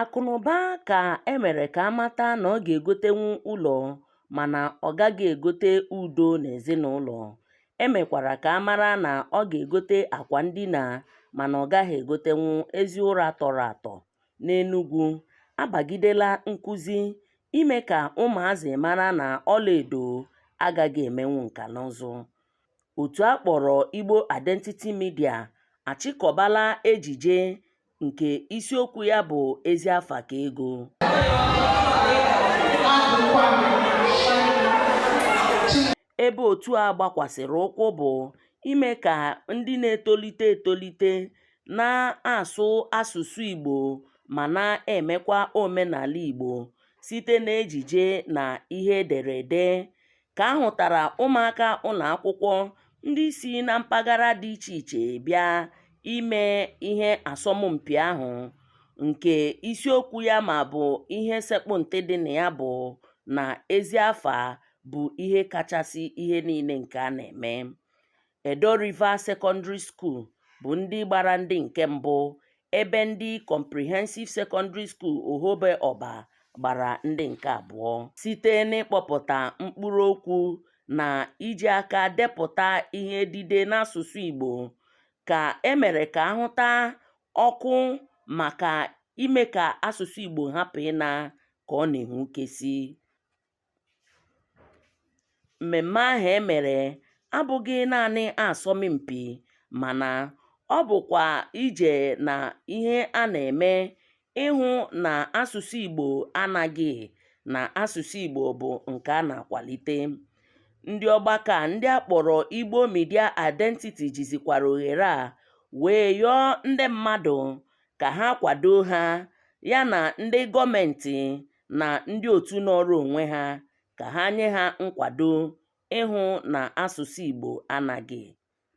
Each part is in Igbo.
Akụnụba ka e mere ka a mata na ọ ga-egotenwu ụlọ mana ọ gaghị egote udo n'ezinụlọ. E mekwara ka a mara na ọ ga-egote akwa ndina mana ọ gaghị egotenwu ezi ụra tọrọ atọ. N'Enugwu, a bagidela nkuzi ime ka ụmụazị mara na ọlaedo agaghị emenwu nkanụzụ. Otu a kpọrọ Igbo Identity Media achịkọbala ejije nke isiokwu ya bụ ezi afa ka ego ebe otu a gbakwasịrị ụkwụ bụ ime ka ndị na-etolite etolite na-asụ asụsụ Igbo ma na-emekwa omenala Igbo site n'ejije na ihe ederede ka a hụtara ụmụaka ụlọakwụkwọ ndị si na mpaghara dị iche iche bịa ime ihe asọmpi ahụ nke isiokwu ya ma ọ bụ ihe sekpụ ntị dị na ya bụ na ezi afa bụ ihe kachasị ihe niile nke a na-eme. Idaw River Secondary School bụ ndị gbara ndị nke mbụ ebe ndị Comprehensive Secondary School Ohebe Orba gbara ndị nke abụọ. Site n'ịkpọpụta mkpụrụ okwu na iji aka depụta ihe edide n'asụsụ Igbo ka e mere ka a hụta ọkụ maka ime ka asụsụ Igbo hapụ ịna ka ọ na-enwukesi. Mmemme ahụ e mere abụghị naanị asọmpi mana ọ bụkwa ije na ihe a na-eme ịhụ na asụsụ Igbo anaghị na asụsụ Igbo bụ nke a na-akwalite. Ndị ọgbakọ a ndị a kpọrọ Igbo Media Identity jizikwara ohere a wee yọọ ndị mmadụ ka ha kwado ha yana ndị gọọmentị na ndị otu nọọrọ onwe ha ka ha nye ha nkwado ịhụ na asụsụ Igbo anaghị.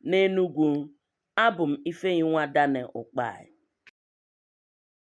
N'Enugwu, abụ m Ifeyinwa Daniel Ukpai.